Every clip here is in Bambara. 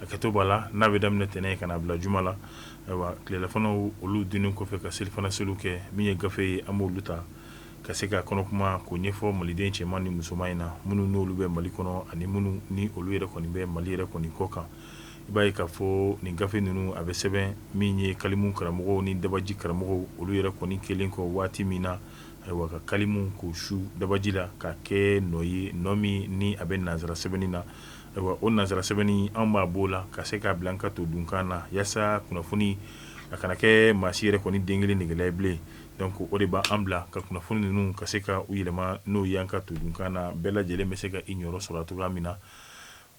A kɛtɔ b'a la n'a bɛ daminɛ tɛnɛn ka na bila juma la ayiwa tilelafanaw olu dunni kɔfɛ ka selifana seliw kɛ min ye gafe ye an b'olu ta ka se ka kɔnɔ kuma k'o ɲɛfɔ maliden cɛman ni musoman in na minnu n'olu bɛ mali kɔnɔ ani minnu ni olu yɛrɛ kɔni bɛ mali yɛrɛ kɔni kɔkan i b'a ye k'a fɔ nin gafe ninnu a bɛ sɛbɛn min ye kalimu karamɔgɔ ni dabaji karamɔgɔ olu yɛrɛ kɔni kɛlen kɔ waati min na ayiwa ka kalimu k'o su dabaji la ka kɛ nɔ ye nɔ min ni a bɛ nansara sɛbɛnni na Ayiwa o nansara sɛbɛnni an b'a b'o la ka se k'a bila an ka to dunkan na walasa kunnafoni a kana kɛ maa si yɛrɛ kɔni den kelen nɛgɛ la bilen donc o de b' an bila ka kunnafoni ninnu ka se ka u yɛlɛma n'o y'an ka to dunkan na bɛɛ lajɛlen bɛ se ka i niyɔrɔ sɔrɔ cogoya min na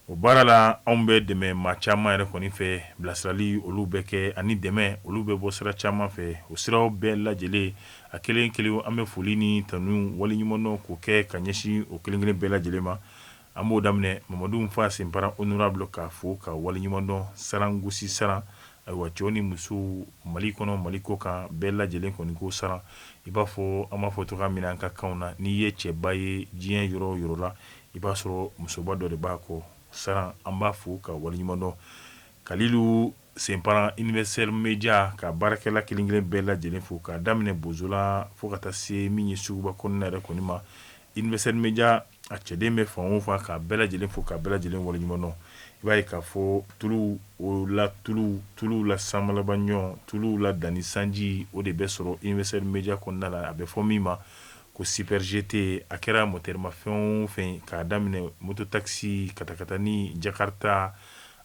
o baara la anw bɛ dɛmɛ maa caman yɛrɛ kɔni fɛ bilasirali olu bɛ kɛ ani dɛmɛ olu bɛ bɔ sira caman fɛ o siraw bɛɛ lajɛlen a kelen kelen an bɛ foli ni tanu waleɲumandɔn k'o kɛ ka ɲɛsin o kelen kelen bɛɛ lajɛlen ma An b'o daminɛ Mamadu Nfa Senpara honorable k'a fo k'a waleɲumandɔn Saran Gosi Saran, ayiwa cɛw ni musow Mali kɔnɔ Mali kɔkan bɛɛ lajɛlen kɔni ko Saran, i b'a fɔ an b'a fɔ cogoya min na an ka kanw na, n'i ye cɛba ye diɲɛ yɔrɔ o yɔrɔ la, i b'a sɔrɔ musoba dɔ de b'a kɔ Saran, an b'a fo k'a waleɲumandɔn Kalilu Senpara Universel Media ka baarakɛla kelen kelen bɛɛ lajɛlen fo k'a daminɛ Bozola fo ka taa se min ye suguba kɔnɔna yɛrɛ kɔni ma, Universel Media a cɛden bɛ fan o fan k'a bɛɛ lajɛlen fo k'a bɛɛ lajɛlen waleɲumandɔn i b'a ye k'a fɔ tuluw la tulu tulu la samalabaɲɔ tulu la dan ni sanji o de bɛ sɔrɔ Universel Media kɔnɔna la a bɛ fɔ min ma ko Super GT a kɛra mɔtɛrimafɛn o fɛn k'a daminɛ moto takisi katakatani jakarita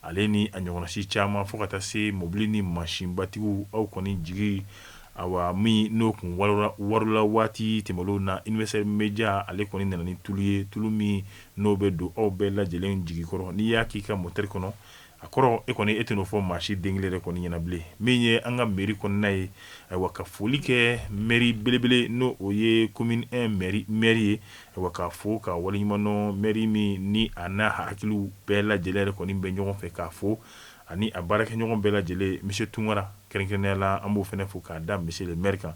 Ale ni a ɲɔgɔnna si caman fo ka taa se mɔbili ni mansinbatigiw aw kɔni jigi awa min n'o kun warola waati tɛmɛnenw na Universel Media ale kɔni nana ni tulu ye tulu min n'o bɛ don aw bɛɛ lajɛlen jigi kɔrɔ n'i y'a k'i ka moteri kɔnɔ a kɔrɔ e kɔni e tɛn'o fɔ maa si den kelen yɛrɛ kɔni ɲɛna bilen min ye an ka mɛri kɔnɔna ye ayiwa ka foli kɛ mɛri belebele n'o ye komini ɛn mɛri ye Wa k'a fo k'a waleɲumandɔn mɛri min ni a n'a hakiliw bɛɛ lajɛlen yɛrɛ kɔni bɛ ɲɔgɔn fɛ k'a fo ani a baarakɛɲɔgɔn bɛɛ lajɛlen misiye Tunkara kɛrɛnkɛrɛnnenya la an b'o fana fo k'a da misiye le mɛri kan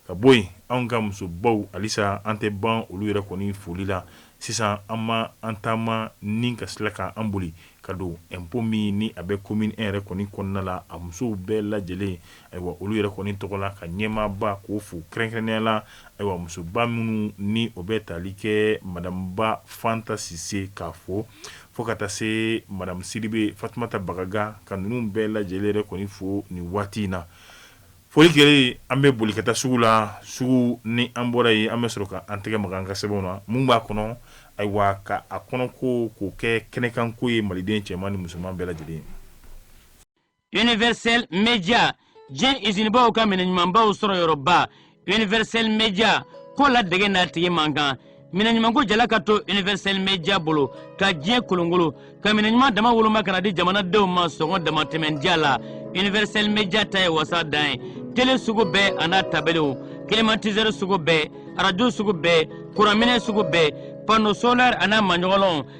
ka bɔ yen an ka musobaw halisa an tɛ ban olu yɛrɛ kɔni foli la sisan an ma an taama ni ka sila kan an boli ka don ɛnpo min ni a bɛ komini ɛn yɛrɛ kɔni kɔnɔna la a musow bɛɛ lajɛlen ayiwa olu yɛrɛ kɔni tɔgɔ la ka ɲɛmaaba k'o fo kɛrɛnkɛrɛnnenya la ayiwa musoba minnu ni o bɛ taali kɛ madamu Ba Fanta Sise k'a fo fo ka taa se madamu Sidibe Fatumata Bagaga ka ninnu bɛɛ lajɛlen yɛrɛ kɔni fo nin waati in na Foli kɛlen an bɛ boli ka taa sugu la sugu ni an bɔra yen an bɛ sɔrɔ k' an tɛgɛ maga an ka sɛbɛnw na mun b'a kɔnɔ ayiwa ka a kɔnɔ ko k'o kɛ kɛnɛkanko ye maliden cɛman ni musoman bɛɛ lajɛlen Universel Media diɲɛ izinibaw ka minɛ ɲumanbaw sɔrɔ yɔrɔba Universel Media ko ladege n'a tigi man kan minɛɲumanko jala ka to universel media bolo ka diɲɛ kolonkolon ka minɛɲuman dama woloma ka na di jamanadenw ma sɔngɔ damatɛmɛ diya la universel media ta ye wasa dan ye tele sugu bɛɛ a n'a tabelew climatiseur sugu bɛɛ arajo sugu bɛɛ kuranminɛ sugu bɛɛ panneau solaire a n'a maɲɔgɔlɔnw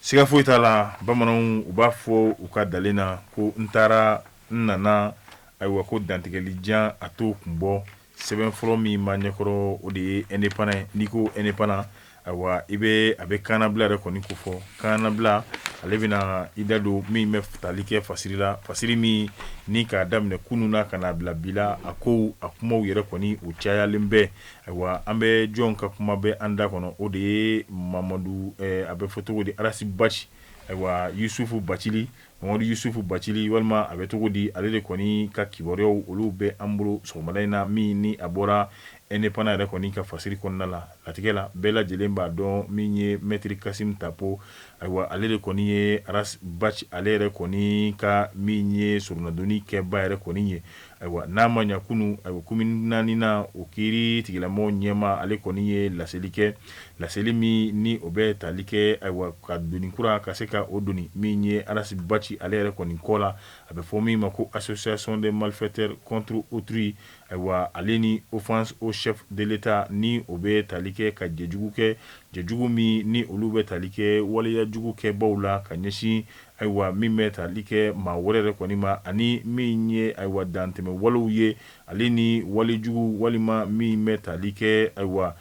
Siga foyi t'a la bamananw u b'a fɔ u ka dalen na ko n taara n nana ayiwa ko dantigɛlijan a t'o kun bɔ sɛbɛn fɔlɔ min b'an ɲɛkɔrɔ o de ye indépendant n'i ko indépendant ayiwa i bɛ a bɛ kaanabila yɛrɛ kɔni ko fɔ kaanabila ale bɛna i da don min bɛ tali kɛ fasiri la fasiri min ni k'a daminɛ kunun na ka n'a bila bi la a kow a kumaw yɛrɛ kɔni u cayalen bɛ Ayiwa an bɛ jɔn ka kuma bɛ an da kɔnɔ o de ye mamadu a bɛ fɔ cogo di arasi baci ayiwa yusufu bacili mamadu yusufu bacili walima a bɛ cogo di ale de kɔni ka kibaruyaw olu bɛ an bolo sɔgɔmada in na min ni a bɔra indépendant yɛrɛ kɔni ka fasiri kɔnɔna la latigɛ la bɛɛ lajɛlen b'a dɔn min ye mɛtiri kasimu tapo ayiwa ale de kɔni ye ale yɛrɛ kɔni ka min ye soronadonni kɛbaa yɛrɛ kɔni ye Ayiwa n'a ma ɲɛ kunun ayiwa komini naaninan o kiiri tigilamɔgɔ ɲɛmaa ale kɔni ye laseli kɛ laseli min ni o bɛ tali kɛ ayiwa ka doni kura ka se ka o doni min ye arasi baci ale yɛrɛ kɔni kɔ la a bɛ fɔ min ma ko association de malfaiteurs contre autrui ayiwa ale ni offense au chef de l'état ni o bɛ tali kɛ ka jɛjugu kɛ jɛjugu min ni olu bɛ tali kɛ waleyajugu kɛbaaw la ka ɲɛsin Ayiwa min bɛ tali kɛ maa wɛrɛ yɛrɛ kɔni ma ani min ye ayiwa dantɛmɛ walew ye ale ni walejugu walima min bɛ tali kɛ ayiwa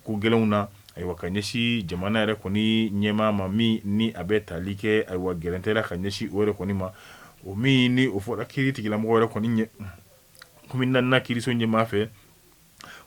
ko gɛlɛnw na ayiwa ka ɲɛsin jamana yɛrɛ kɔni ɲɛmaa ma min ni a bɛ tali kɛ ayiwa gɛrɛntɛ la ka ɲɛsin o yɛrɛ kɔni ma o min ni o fɔra kiiri tigilamɔgɔ yɛrɛ kɔni ɲɛ komini naaninan kiiriso ɲɛmaa fɛ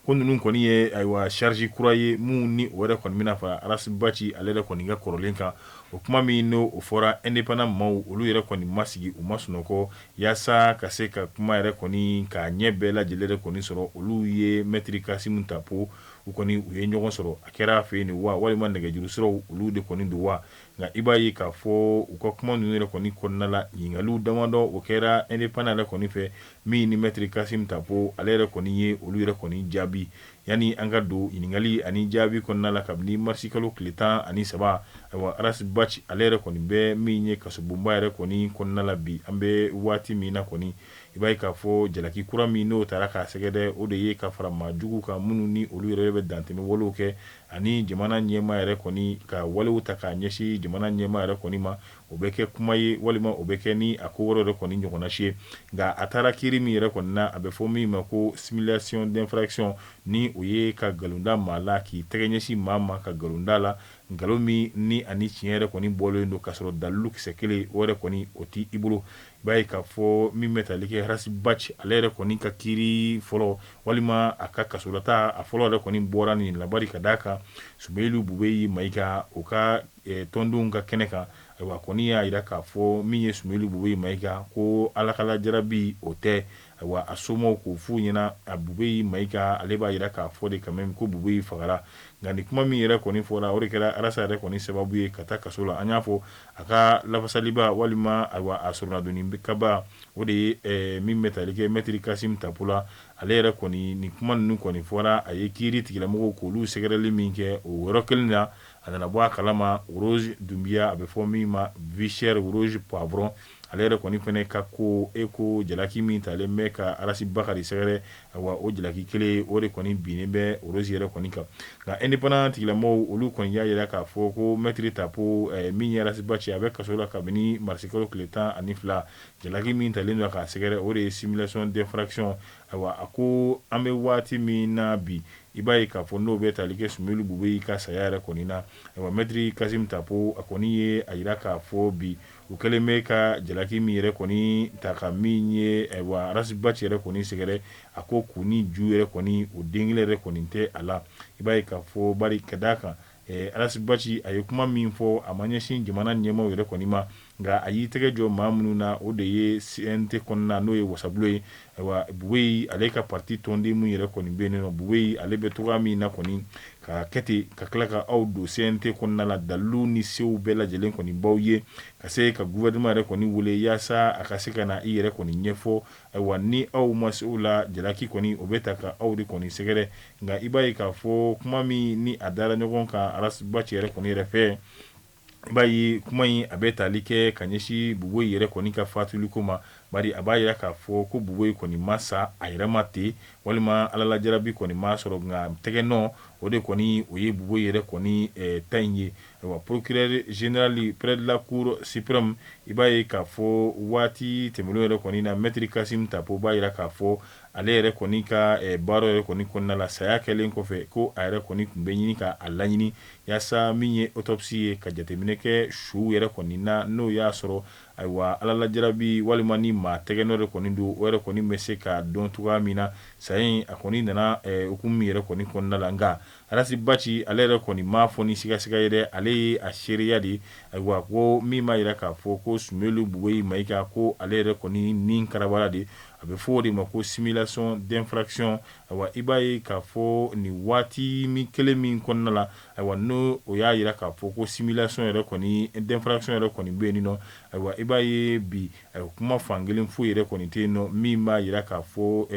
ko ninnu kɔni ye ayiwa charge kura ye min ni o yɛrɛ kɔni bɛna fara arasi baci ale yɛrɛ kɔni ka kɔrɔlen kan o kuma min n'o o fɔra indépendant maaw olu yɛrɛ kɔni ma sigi u ma sunɔgɔ yaasa ka se ka kuma yɛrɛ kɔni k'a ɲɛ bɛɛ lajɛlen yɛrɛ kɔni sɔrɔ olu ye mɛtiri kasimu tapo u kɔni u ye ɲɔgɔn sɔrɔ a kɛra fɛ yen nin wa walima nɛgɛjuru siraw olu de kɔni don wa nka i b'a ye k'a fɔ u ka kuma ninnu yɛrɛ kɔni kɔnɔna la ɲininkaliw damadɔ o kɛra indépendant yɛrɛ kɔni fɛ min ni maître Kasim Tapo ale yɛrɛ kɔni ye olu yɛrɛ kɔni jaabi yanni an ka don ɲininkali ani jaabi kɔnɔna la kabini marisi kalo tile tan ani saba ayiwa Arasi Baci ale yɛrɛ kɔni bɛ min ye kasobonba yɛrɛ kɔni kɔnɔna la bi an bɛ waati min na kɔni i b'a ye k'a fɔ jalaki kura min n'o taara k'a sɛgɛrɛ o de ye ka fara maa jugu kan minnu ni olu yɛrɛ bɛ dantɛmɛ walew kɛ ani jamana ɲɛmaa yɛrɛ kɔni ka walew ta k'a ɲɛsin jamana ɲɛmaa yɛrɛ kɔni ma o bɛ kɛ kuma ye walima o bɛ kɛ ni a ko wɛrɛ yɛrɛ kɔni ɲɔgɔnna si ye nka a taara kiiri min yɛrɛ kɔni na a bɛ fɔ min ma ko simulation d'infraction ni o ye ka nkalon da maa la k'i tɛgɛ ɲɛsin maa ma ka nkalon da a la nkalon min ni ani tiɲɛ yɛrɛ kɔni bɔlen don k'a sɔrɔ dalilu kisɛ kelen o yɛrɛ kɔni o tɛ i bolo I b'a ye k'a fɔ min bɛ tali kɛ Arasi Baci ale yɛrɛ kɔni ka kiiri fɔlɔ walima a ka kasolata a fɔlɔ yɛrɛ kɔni bɔra nin la bari ka d'a kan Sumɛyilu Bubeyi Mayiga o ka tɔndenw ka kɛnɛ kan ayiwa a kɔni y'a jira k'a fɔ min ye Sumɛyilu Bubeyi Mayiga ko Ala ka lajarabi o tɛ Ayiwa a somaw k'o f'u ɲɛna a Bubeyi Mayiga ale b'a jira k'a fɔ de quand même ko Bubeyi fagara nka nin kuma min yɛrɛ kɔni fɔra o de kɛra Arasi yɛrɛ kɔni sababu ye ka taa kaso la an y'a fɔ a ka lafasaliba walima ayiwa a soronnadonnikɛbaa o de ye ɛɛ min bɛ tali kɛ maître Kasim Tapo la ale yɛrɛ kɔni nin kuma ninnu kɔni fɔra a ye kiiri tigilamɔgɔw k'olu sɛgɛrɛli min kɛ o yɔrɔ kelen na a nana bɔ a kalama Rose Dunbiya a bɛ fɔ min ma vie chère Rose Poivron ale yɛrɛ kɔni fana ka ko e ko jalaki min talen bɛ ka Arasi Bacili sɛgɛrɛ ayiwa o jalaki kelen o de kɔni binnen bɛ Rose yɛrɛ kɔni kan nka indépendant tigilamɔgɔw olu kɔni y'a jira k'a fɔ ko maître Tapo min ye Arasi Baci a bɛ kaso la kabini marisi kalo tile tan ani fila jalaki min talen don k'a sɛgɛrɛ o de ye simulation d'infraction ayiwa a ko an bɛ waati min na bi i b'a ye k'a fɔ n'o bɛ tali kɛ Sumɛyilu Bubeyi ka saya yɛrɛ kɔni na maître Kasim Tapo a kɔni ye a jira k'a fɔ bi U kɛlen bɛ ka jalaki min yɛrɛ kɔni ta ka min ye ayiwa Arasi Baci yɛrɛ kɔni sɛgɛrɛ a ko kun ni ju yɛrɛ kɔni o den kelen yɛrɛ kɔni tɛ a la i b'a ye k'a fɔ bari ka d'a kan Arasi Baci a ye kuma min fɔ a ma ɲɛsin jamana ɲɛmaaw yɛrɛ kɔni ma nka a y'i tɛgɛ jɔ maa minnu na o de ye CNT kɔnɔna na n'o ye wasabulon ye Ayiwa Bubeyi ale ka parti tɔnden min yɛrɛ kɔni bɛ yen n'o Bubeyi ale bɛ cogoya min na kɔni ka kɛ ten ka tila ka aw don CNT kɔnɔna la dalilu ni se bɛɛ lajɛlen kɔni b'aw ye ka se ka gouvernement yɛrɛ kɔni wele yaasa a ka se ka na i yɛrɛ kɔni ɲɛfɔ ayiwa ni aw ma se o la jalaki kɔni o bɛ ta ka aw de kɔni sɛgɛrɛ nka i b'a ye k'a fɔ kuma min ni a dara ɲɔgɔn kan Arasi Baci yɛrɛ kɔni yɛrɛ fɛ I b'a ye kuma in a bɛ tali kɛ ka ɲɛsin Bubɛyi yɛrɛ kɔni ka faatuliko ma bari a b'a jira k'a fɔ ko Bubɛyi kɔni ma sa a yɛrɛma ten walima Ala la jarabi kɔni m'a sɔrɔ nka tɛgɛ nɔ o de kɔni o ye Bubɛyi yɛrɛ kɔni ta in ye ayiwa procureur général près de la cour suprême i b'a ye k'a fɔ waati tɛmɛnen yɛrɛ kɔni na mɛtiri Kasim Tapo b'a jira k'a fɔ ale yɛrɛ kɔni ka baara yɛrɛ kɔni kɔnɔna la saya kɛlen kɔfɛ ko a yɛrɛ kɔni tun bɛ ɲini k'a laɲini yaasa min ye autopsie ye ka jateminɛ kɛ su yɛrɛ kɔni na n'o y'a sɔrɔ ayiwa Ala la jarabi walima ni maa tɛgɛ nɔ de kɔni don o yɛrɛ kɔni bɛ se ka dɔn cogoya min na saya in a kɔni nana hukumu yɛrɛ kɔni kɔnɔna la nka Arasi Baci ale yɛrɛ kɔni m'a fɔ ni sigasiga ye dɛ ale ye a seereya de ye ayiwa ko min b'a jira k'a fɔ ko Sumeyilu Bubɛyi Mayiga ko ale yɛrɛ kɔni ni karabala de A bɛ fɔ o de ma ko simulation d'infraction ayiwa i b'a ye k'a fɔ nin waati min kelen min kɔnɔna la ayiwa ni o y'a jira k'a fɔ ko simulation yɛrɛ kɔni d'infraction yɛrɛ kɔni bɛ yen nɔ ayiwa i b'a ye bi kuma fankelen foyi yɛrɛ kɔni tɛ yen nɔ min b'a jira k'a fɔ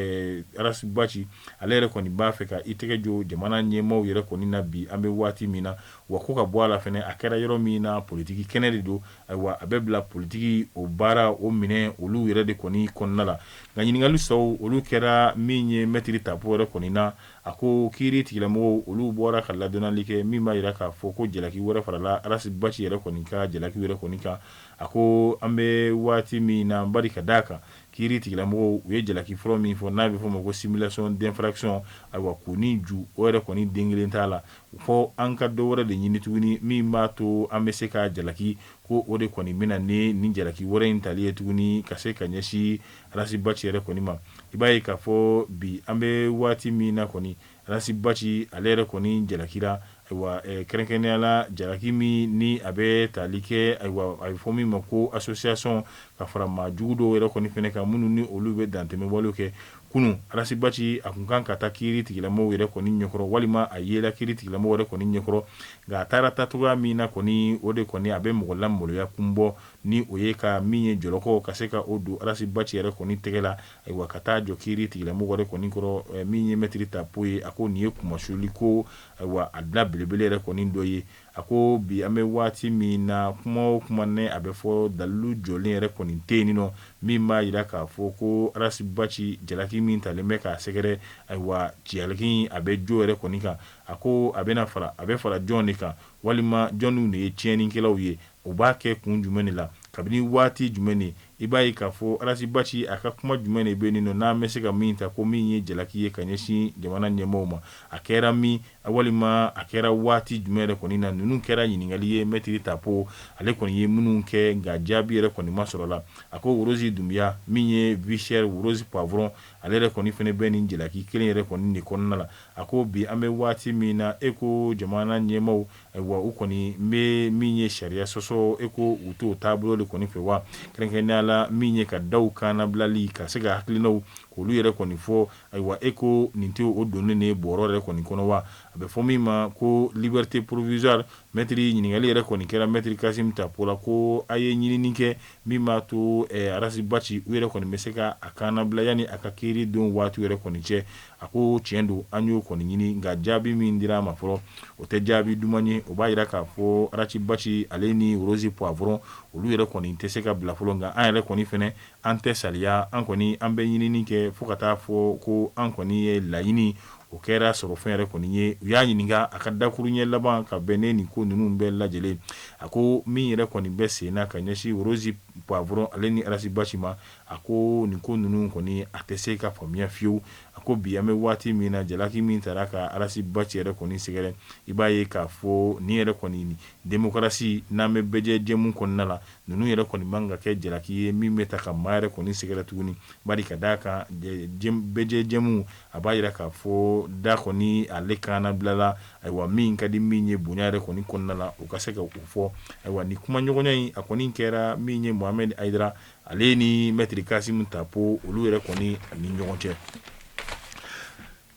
Arasi Baci ale yɛrɛ kɔni b'a fɛ ka i tɛgɛ jo jamana ɲɛmaaw yɛrɛ kɔni na bi an bɛ waati min na wa ko ka bɔ a la fɛnɛ a kɛra yɔrɔ min na politiki kɛnɛ de don Ayiwa a bɛ bila politiki o baara o minɛ olu yɛrɛ de kɔni kɔnɔna la nka ɲininkali sɔrɔ olu kɛra min ye mɛtiri Tapo yɛrɛ kɔni na a ko kiiri tigɛlamɔgɔw olu bɔra ka ladɔnnali kɛ min b'a jira k'a fɔ ko jalaki wɛrɛ farala Arasi Baci yɛrɛ kɔni ka jalaki wɛrɛ kɔni kan a ko an bɛ waati min na bari ka d'a kan kiiri tigɛlamɔgɔw u ye jalaki fɔlɔ min fɔ n'a bɛ fɔ ma ko simulation d'infraction ayiwa ko nin ju o yɛrɛ kɔni den kelen t'a la fɔ an ka dɔ wɛrɛ de ɲini tuguni min b'a to an bɛ se ka jalaki ko o de kɔni bɛ na ni nin jalaki wɛrɛ in tali ye tuguni ka se ka ɲɛsin Arasi Baci yɛrɛ kɔni ma i b'a ye k'a fɔ bi an bɛ waati min na kɔni Arasi Baci ale yɛrɛ kɔni jalakira ayiwa kɛrɛnkɛrɛnnenya la jalaki min ni a bɛ tali kɛ ayiwa a bɛ fɔ min ma ko association ka fara maa jugu dɔw yɛrɛ kɔni fɛnɛ kan minnu ni olu bɛ dantɛmɛwale kɛ kunun Arasi Baci a tun kan ka taa kiiri tigilamɔgɔw yɛrɛ kɔni ɲɛkɔrɔ walima a yela kiiri tigilamɔgɔw yɛrɛ kɔni ɲɛkɔrɔ nka a taara taacogoya min na kɔni o de kɔni a bɛ mɔgɔ lamaloya kun bɔ ni o ye ka min ye jɔlɔkɔ ka se ka o don Arasi Baci yɛrɛ kɔni tɛgɛ la ayiwa ka taa jɔ kiiri tigilamɔgɔw yɛrɛ kɔni kɔrɔ min ye mɛtiri Tapo ye a ko nin ye kunmasuuli ko ayiwa a da belebele yɛrɛ kɔni dɔ ye A ko bi an bɛ waati min na kuma o kuma ne a bɛ fɔ dalilu jɔlen yɛrɛ kɔni tɛ yen nɔ min b'a jira k'a fɔ ko Arasi Baci jalaki min talen bɛ k'a sɛgɛrɛ ayiwa jalaki a bɛ jo yɛrɛ kɔni kan a ko a bɛna fara a bɛ fara jɔn de kan walima jɔnniw de ye tiɲɛnikɛlaw ye u b'a kɛ kun jumɛn de la kabini waati jumɛn de I b'a ye k'a fɔ Arasi Baci a ka kuma jumɛn de bɛ yen nɔ n'an bɛ se ka min ta ko min ye jalaki ye ka ɲɛsin jamana ɲɛmaaw ma, a kɛra min walima a kɛra waati jumɛn yɛrɛ kɔni na? Ninnu kɛra ɲininkali ye Mɛtiri Tapo ale kɔni ye minnu kɛ nka jaabi yɛrɛ kɔni ma sɔrɔ a la. A ko Worozi Dunbiya min ye Vichɛri Worozi Pwavɔrɔn ale yɛrɛ kɔni fɛnɛ bɛ nin jalaki kelen yɛrɛ kɔni de kɔnɔna la. A ko bi an bɛ waati min na e ko jamana ɲɛmaaw Wa u kɔni bɛ min ye sariya sɔsɔ e ko u t'o taabolo de kɔni fɛ wa kɛrɛnkɛrɛnnenya la min ye ka daw kannabilali ka se ka hakilinaw k'olu yɛrɛ kɔni fɔ ayiwa e ko nin tɛ o donnen de bɔrɔ yɛrɛ kɔni kɔnɔ wa a bɛ fɔ min ma ko liberté provisoire mɛtiri ɲininkali yɛrɛ kɔni kɛra mɛtiri Kasim Tapo la ko a ye ɲinini kɛ min b'a to Arasi Baci u yɛrɛ kɔni bɛ se ka a kannabila yanni a ka kiiri don waati yɛrɛ kɔni cɛ a ko tiɲɛ don an y'o kɔni ɲini nka jaabi min dira a ma fɔlɔ o tɛ jaabi duman ye o b'a yira k'a fɔ Arasi Baci ale ni Worozi Pwavɔrɔn olu yɛrɛ kɔni tɛ se ka bila fɔlɔ nka an yɛrɛ kɔni fɛnɛ an tɛ saliya an kɔni an bɛ ɲinini kɛ fo ka taa fɔ ko an kɔni ye laɲini o kɛra sɔrɔ fɛn yɛrɛ kɔni ye u y'a ɲininka a ka dakuru ɲɛ laban ka bɛn ne nin ko ninnu bɛɛ lajɛlen a ko min yɛrɛ kɔni bɛ sen na ka ɲɛsin Worozi Pwavɔrɔn ale ni Arasi Baci ma a ko nin ko ninnu kɔni a tɛ se ka faamuya fiyewu a ko bi an bɛ waati min na jalaki min taara ka Arasi Baci yɛrɛ kɔni sɛgɛrɛ i b'a ye k'a fɔ ni yɛrɛ kɔni demokarasi n'an bɛ bɛɛjɛ jɛmu kɔnɔna la ninnu yɛrɛ kɔni man ka kɛ jalaki ye min bɛ ta ka maa yɛrɛ kɔni sɛgɛrɛ tuguni bari ka d'a kan bɛɛjɛ jɛmu a b'a yira k'a fɔ da kɔni ale kannabilala ayiwa min ka di min ye bonya yɛrɛ kɔni kɔnɔna la o ka se ka o fɔ ayiwa ni kumaɲɔgɔnya in a kɔni kɛra min ye Mohamed Ayidara ale ni Mɛtiri Kasim Tapo olu yɛrɛ kɔni ni ɲɔgɔn cɛ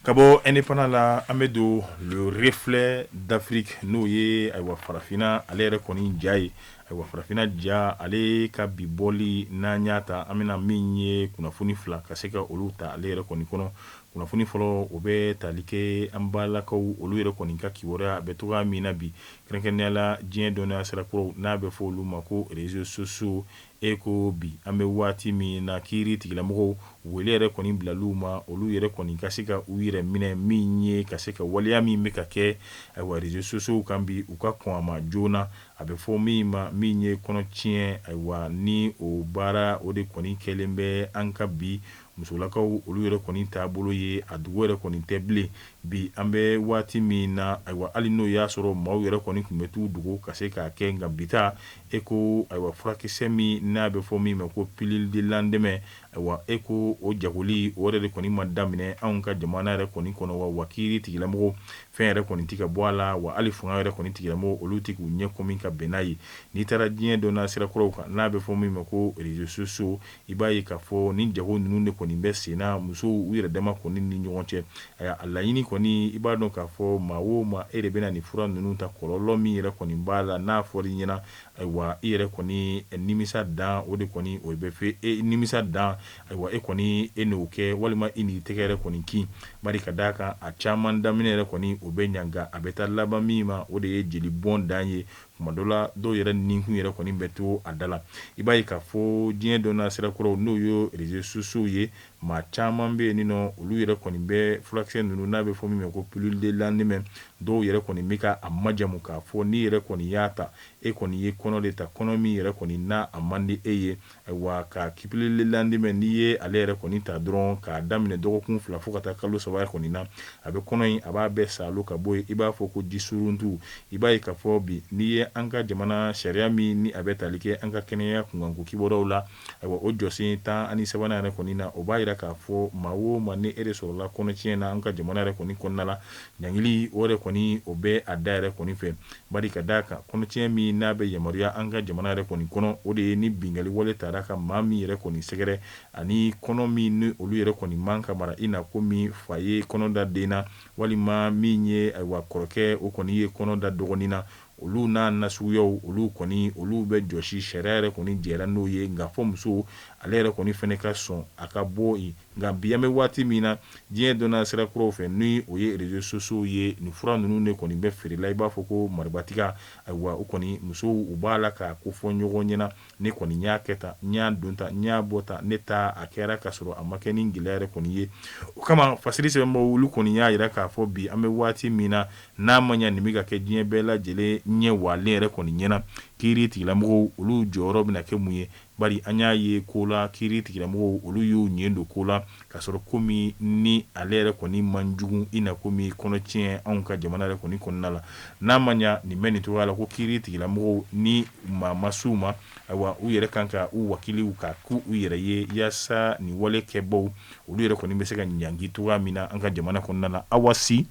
ka bɔ indépendant la an bɛ don le reflet d'Afrique n'o ye ayiwa farafinna ale yɛrɛ kɔni ja ye Ayiwa farafinna ja ale ka bi bɔli n'an y'a ta an bɛna min ye kunnafoni fila ka se ka olu ta ale yɛrɛ kɔni kɔnɔ kunnafoni fɔlɔ o bɛ tali kɛ an balakaw olu yɛrɛ kɔni ka kibaruya a bɛ cogoya min na bi kɛrɛnkɛrɛnnenya la diɲɛ dɔnniya sira kuraw n'a bɛ fɔ olu ma ko réseaux sociaux e ko bi an bɛ waati min na kiiri tigilamɔgɔw wele yɛrɛ kɔni bilal'u ma olu yɛrɛ kɔni ka se ka u yɛrɛ minɛ min ye ka se ka waleya min bɛ ka kɛ ayiwa réseaux sociaux kan bi u ka kɔn a ma joona A bɛ fɔ min ma min ye kɔnɔ tiɲɛ ayiwa ni o baara o de kɔni kɛlen bɛ an ka bi musolakaw olu yɛrɛ kɔni taabolo ye a dogo yɛrɛ kɔni tɛ bilen bi an bɛ waati min na ayiwa hali n'o y'a sɔrɔ maaw yɛrɛ kɔni tun bɛ t'u dogo ka se k'a kɛ nka bita e ko ayiwa furakisɛ min n'a bɛ fɔ min ma ko pilule du lendemain Ayiwa e ko o jago de kɔni ma daminɛ anw ka jamana yɛrɛ kɔni kɔnɔ wa wa kiiri tigilamɔgɔw fɛn yɛrɛ kɔni tɛ ka bɔ a la wa hali fanga yɛrɛ kɔni tigilamɔgɔw olu tɛ k'u ɲɛ kɔmi min ka bɛn n'a ye n'i taara diɲɛ dɔnna sira kuraw kan n'a bɛ fɔ min ma ko réseaux sociaux i b'a ye k'a fɔ ni jago ninnu de kɔni bɛ senna musow u yɛrɛ dama kɔni ni ɲɔgɔn cɛ a laɲini kɔni i b'a dɔn k'a fɔ maa o maa e de bɛna nin fura ninnu ta kɔlɔlɔ min yɛrɛ kɔni b'a la n'a fɔra i ɲɛna Ayiwa i yɛrɛ kɔni nimisa dan o de kɔni o bɛ fɛ e nimisa dan ayiwa e kɔni e n'o kɛ walima i n'i tɛgɛ yɛrɛ kɔni kin bari ka d'a kan a caman daminɛ yɛrɛ kɔni o bɛ ɲaga a bɛ taa laban min ma o de ye jeli bɔn dan ye tuma dɔ la dɔw yɛrɛ ninkun yɛrɛ kɔni bɛ to a da la i b'a ye k'a fɔ diɲɛ dɔnna sira kuraw n'o ye réseaux sociaux ye Maa caman bɛ yen n'olu yɛrɛ kɔni bɛ furakisɛ ninnu n'a bɛ fɔ min ma ko pilule de lendemain dɔw yɛrɛ kɔni bɛ ka a majamu k'a fɔ n'i yɛrɛ kɔni y'a ta e kɔni ye kɔnɔ de ta kɔnɔ min yɛrɛ kɔni n'a a man di e ye ayiwa ka pilule de lendemain n'i ye ale yɛrɛ kɔni ta dɔrɔn k'a daminɛ dɔgɔkun fila fo ka taa kalo saba kɔni na a bɛ kɔnɔ in a b'a bɛɛ saalo ka bɔ yen i b'a fɔ ko jisuruntu i b'a ye k'a fɔ bi n'i ye an ka jamana sariya min ni a bɛ tali kɛ an ka kɛnɛya kunkanko kibaruyaw la Ayiwa o jɔsen tan ani sabanan yɛrɛ kɔni na o b'a yira k'a fɔ maa o maa ni e de sɔrɔla kɔnɔtiɲɛ na an ka jamana yɛrɛ kɔni kɔnɔna la ɲangili o yɛrɛ kɔni o bɛ a da yɛrɛ kɔni fɛ bari ka da a kan kɔnɔtiɲɛ min n'a bɛ yamaruya an ka jamana yɛrɛ kɔni kɔnɔ o de ye ni binkanni wale taara ka maa min yɛrɛ kɔni sɛgɛrɛ ani kɔnɔ min ni olu yɛrɛ kɔni man ka mara i na komi fa ye kɔnɔ da den na walima min ye ayiwa kɔrɔkɛ o kɔni ye kɔnɔ da dɔgɔnin na olu n'a nasuguyaw olu kɔni olu bɛ jɔsi sariya yɛrɛ kɔni jɛra n'o ye nka fo muso ale yɛrɛ kɔni fɛnɛ ka sɔn a ka bɔ yen nka bi an bɛ waati min na diɲɛ dɔnna sira kuraw fɛ ni o ye réseaux sociaux ye nin fura ninnu de kɔni bɛ feerela i b'a fɔ ko maribatiga ayiwa o kɔni musow u b'a la k'a kofɔ ɲɔgɔn ɲɛna ne kɔni y'a kɛ tan n y'a don tan n y'a bɔ tan ne ta a kɛra k'a sɔrɔ a ma kɛ ni gɛlɛya yɛrɛ kɔni ye o kama fasiri sɛbɛnbaaw olu kɔni y'a yira k'a fɔ bi an bɛ waati min na n'a ma ɲɛ nin bɛ ka kɛ diɲɛ bɛɛ lajɛlen ɲɛ walen yɛrɛ kɔni ɲɛna kiiri tigilamɔgɔw olu jɔyɔrɔ bɛna kɛ mun ye bari an y'a ye ko la kiiri tigilamɔgɔw olu y'u ɲɛ don ko la K'a sɔrɔ ko min ni ale yɛrɛ kɔni man jugu i na komi kɔnɔtiɲɛ anw ka jamana yɛrɛ kɔni kɔnɔna la n'a ma ɲɛ nin bɛ nin cogo la ko kiiri tigilamɔgɔw ni maa ma s'u ma ayiwa u yɛrɛ kan ka u wakiliw ka k'u yɛrɛ ye yaasa nin wale kɛbaw olu yɛrɛ kɔni bɛ se ka ɲangi cogoya min na an ka jamana kɔnɔna la Awa Si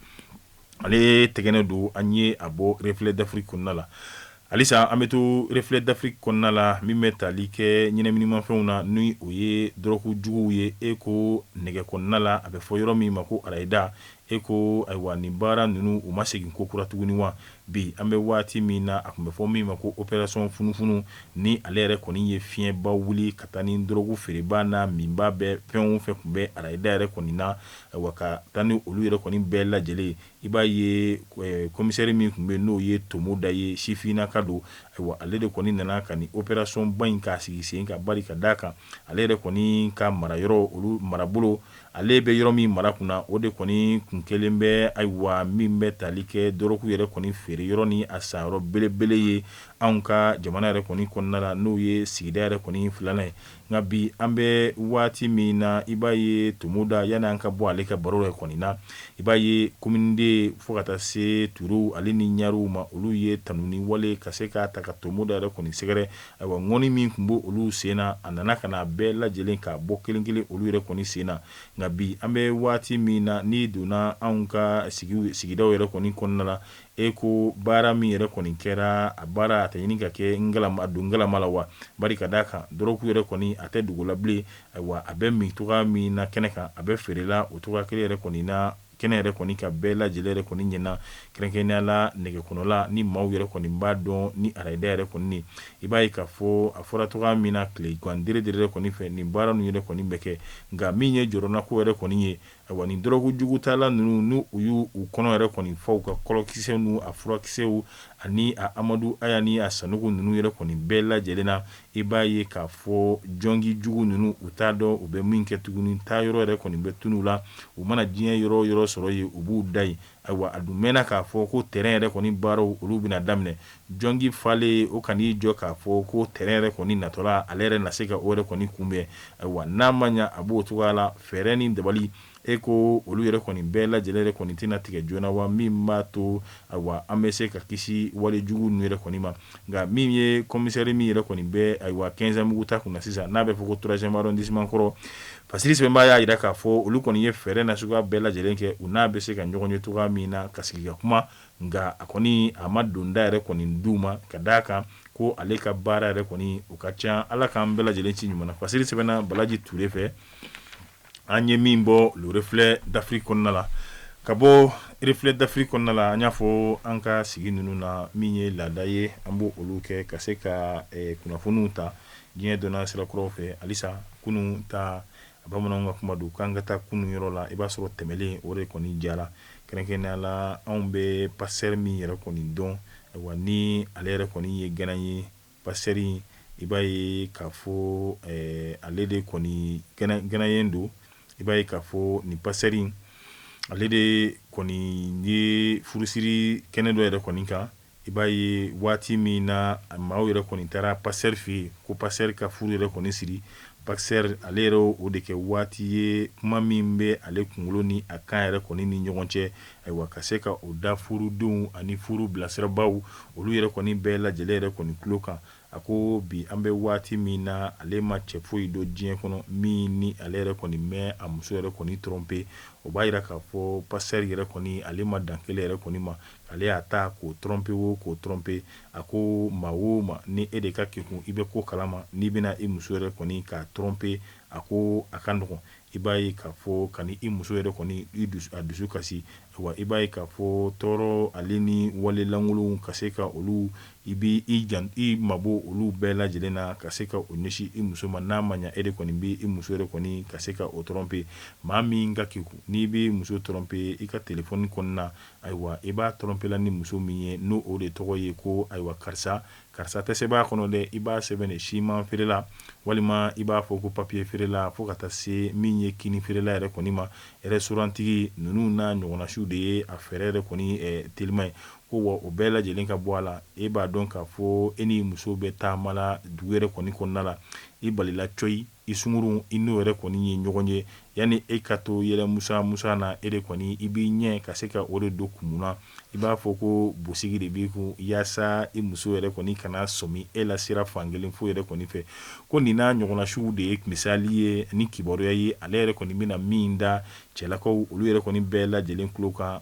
ale tɛgɛnɔ don an ye a bɔ reflet d'afrique kɔnɔna la halisa an bɛ to reflet d'afrique kɔnɔna la min bɛ tali kɛ ɲɛnaminimafɛnw na ni o ye dɔrɔgu juguw ye e ko nɛgɛ kɔnɔna la a bɛ fɔ yɔrɔ min ma ko arayida e ko ayiwa nin baara ninnu u ma segin ko kura tuguni wa bi an bɛ waati min na a tun bɛ fɔ min ma ko opération funufunu ni ale yɛrɛ kɔni ye fiɲɛba wuli ka taa ni dɔrɔgu feerebaa n'a minbaa bɛɛ fɛn o fɛn tun bɛ arayida yɛrɛ kɔni na Wa ka taa ni olu yɛrɛ kɔni bɛɛ lajɛlen i b'a ye commissaire min tun bɛ n'o ye tomoda ye sifinina ka don ayiwa ale de kɔni nana ka opérationba in k'a sigi sen kan bari ka d'a kan ale yɛrɛ kɔni ka mara yɔrɔ olu marabolo ale bɛ yɔrɔ min mara kunna o de kɔni kun kelen bɛ ayiwa min bɛ tali kɛ dɔrɔgu yɛrɛ kɔni feere yɔrɔ ni a san yɔrɔ belebele ye anw ka jamana yɛrɛ kɔni kɔnɔna la n'o ye sigida yɛrɛ kɔni filanan ye nka bi an bɛ waati min na i b'a ye tomoda yanni an ka bɔ ale ka baro yɛrɛ kɔni na i b'a ye kominiden fo ka taa se ture ale ni ɲarew ma olu ye tanuni wale ka se ka taa ka tomoda yɛrɛ kɔni sɛgɛrɛ ayiwa ŋɔni min tun b' olu sen na a nana ka n'a bɛɛ lajɛlen k'a bɔ kelenkelen olu yɛrɛ kɔni sen na nka bi an bɛ waati min na n'i donna anw ka sigidaw yɛrɛ kɔni kɔnɔna la E ko baara min yɛrɛ kɔni kɛra a baara a tɛ ɲini ka kɛ a don galama la wa bari ka d'a kan dɔrɔgu yɛrɛ kɔni a tɛ dogola bilen ayiwa a bɛ min cogo min na kɛnɛ kan a bɛ feerela o cogo kelen yɛrɛ kɔni na kɛnɛ yɛrɛ kɔni kan bɛɛ lajɛlen yɛrɛ kɔni ɲɛna kɛrɛnkɛrɛnnenya la nɛgɛ kɔnɔla ni maaw yɛrɛ kɔni b'a dɔn ni arayida yɛrɛ kɔni i b'a ye k'a fɔ a fɔra cogo min na tile gandire de yɛrɛ kɔni fɛ nin baara ninnu yɛrɛ kɔni bɛ kɛ nka min ye jɔrɔnanko yɛrɛ kɔni ye Ayiwa ni dɔrɔgu jugu tala ninnu n u y' u kɔnɔ yɛrɛ kɔni fa u ka kɔlɔkisɛ n a furakisɛw ani amadu aya ni a sanuku ninnu yɛrɛ kɔni bɛɛ lajɛlen na i b'a ye k'a fɔ jɔngi jugu ninnu u t'a dɔn u bɛ min kɛ tuguni taa yɔrɔ yɛrɛ kɔni bɛ tunun la u mana diɲɛ yɔrɔ yɔrɔ sɔrɔ yen u b'u da yen Ayiwa a dun mɛnna k'a fɔ ko tɛrɛn yɛrɛ kɔni baaraw olu bɛna daminɛ jɔngi falen o kan'i jɔ k'a fɔ ko tɛrɛn yɛrɛ kɔni natɔla ale yɛrɛ na se ka o yɛrɛ kɔni kunbɛn ayiwa n'a ma ɲɛ a b'o cogoya la fɛɛrɛ ni dabali e ko olu yɛrɛ kɔni bɛɛ lajɛlen yɛrɛ kɔni tɛna tigɛ joona wa min b'a to ayiwa an bɛ se ka kisi wale jugu ninnu yɛrɛ kɔni ma nka min ye commissaire min yɛrɛ kɔni bɛ ayiwa kɛnzanbugu ta kunna sisan n'a bɛ fɔ ko troisième arrondissement kɔrɔ fasiri sɛbɛnbaa y'a jira k'a fɔ olu kɔni ye fɛɛrɛ na suguya bɛɛ lajɛlen kɛ u n'a bɛ se ka ɲɔgɔn ye cogo min na ka sigi ka kuma nka a kɔni a ma donda yɛrɛ kɔni d'u ma ka d' a kan ko ale ka baara yɛrɛ kɔni u ka ca ala k'an bɛɛ lajɛlen ci ɲuman fasiri sɛbɛnna balaji ture fɛ an ye min bɔ le reflet d'Afrique kɔnɔna la ka bɔ reflet d'Afrique kɔnɔna la an y'a fɔ an ka sigi ninnu na min ye laada ye an b' olu kɛ ka se ka kunnafoniw ta diɲɛ donna sira kura fɛ halisa kunun ta bamananw ka kuma don k'an ka taa kunun yɔrɔ la i b'a sɔrɔ tɛmɛlen o de kɔni jara kɛrɛnkɛrɛnnenya la anw bɛ pasteur min yɛrɛ kɔni dɔn wa ni ale yɛrɛ kɔni ye Ghana ye Pasteur i b'a ye k'a fɔ ale de kɔni ghanéen don i b'a ye k'a fɔ nin pasteur in ale de kɔni ye furusiri kɛnɛ dɔ yɛrɛ kɔni kan i b'a ye waati min na maaw yɛrɛ kɔni taara pasteur fɛ yen ko pasteur ka furu yɛrɛ kɔni siri Pasteur ale yɛrɛ y'o de kɛ waati ye kuma min bɛ ale kunkolo ni a kan yɛrɛ kɔni ni ɲɔgɔn cɛ ayiwa ka se ka o da furudenw ani furu bilasirabaaw olu yɛrɛ kɔni bɛɛ lajɛlen yɛrɛ kɔni tulo kan a ko bi an bɛ waati min na ale ma cɛ foyi dɔn diɲɛ kɔnɔ min ni ale yɛrɛ kɔni ma a muso yɛrɛ kɔni tromper o b'a yira k'a fɔ pasteur yɛrɛ kɔni ale ma dan kelen yɛrɛ kɔni ma ale y'a ta k'o tromper o k'o tromper A ko maa o maa ni e de ka kekun i bɛ ko kalama n'i bɛna i muso yɛrɛ kɔni k'a tromper a ko a ka nɔgɔn i b'a ye k'a fɔ ka i muso yɛrɛ kɔni a dusu kasi wa i b'a ye k'a fɔ tɔɔrɔ wale ni wale lankolonw ka se ka olu i mabɔ olu bɛɛ lajɛlen na ka se ka o ɲɛsin i muso ma n'a ma ɲɛ e de kɔni bɛ i muso yɛrɛ kɔni ka se ka o tromper maa min ka kekun n'i bɛ muso tromper i ka téléphone kɔnɔna Ayiwa i b'a tromper la ni muso min ye n'o o de tɔgɔ ye ko ayiwa karisa karisa tɛ sɛbɛn a kɔnɔ dɛ i b'a sɛbɛn de siman feerela walima i b'a fɔ ko papiye feerela fo ka taa se min ye kini feerela yɛrɛ kɔni ma restaurantigi ninnu n'a ɲɔgɔnnasiw de ye a fɛɛrɛ yɛrɛ kɔni telima ye ko wa o bɛɛ lajɛlen ka bɔ a la e b'a dɔn k'a fɔ e ni muso bɛ taama la dugu yɛrɛ kɔni kɔnɔna la i balila coyi I sungurun i n'o yɛrɛ kɔni ye ɲɔgɔn ye yanni e ka to yɛlɛ musa musa na e de kɔni i b'i ɲɛ ka se ka o de don kumu na i b'a fɔ ko bosigi de b'i kun yaasa i muso yɛrɛ kɔni kana sɔmi e la sira fankelen fo yɛrɛ kɔni fɛ ko nin n'a ɲɔgɔnnasiw de ye misali ye ni kibaruya ye ale yɛrɛ kɔni bɛna min da cɛlakaw olu yɛrɛ kɔni bɛɛ lajɛlen tulo kan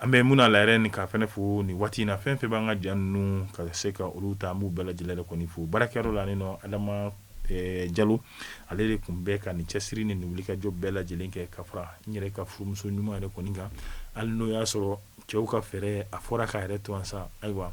An bɛ mun la yɛrɛ nin ka fɛnɛ fo nin waati in na fɛn fɛn b'an ka ja ninnu ka se ka olu ta an b'u bɛɛ lajɛlen yɛrɛ kɔni fo baarakɛyɔrɔ la ni nɔ Adama Jalo ale de tun bɛ ka nin cɛsiri ni nin wulikajɔ bɛɛ lajɛlen kɛ ka fara n yɛrɛ ka furumuso ɲuman yɛrɛ kɔni kan hali n'o y'a sɔrɔ cɛw ka fɛɛrɛ a fɔra k'a yɛrɛ tosa ayiwa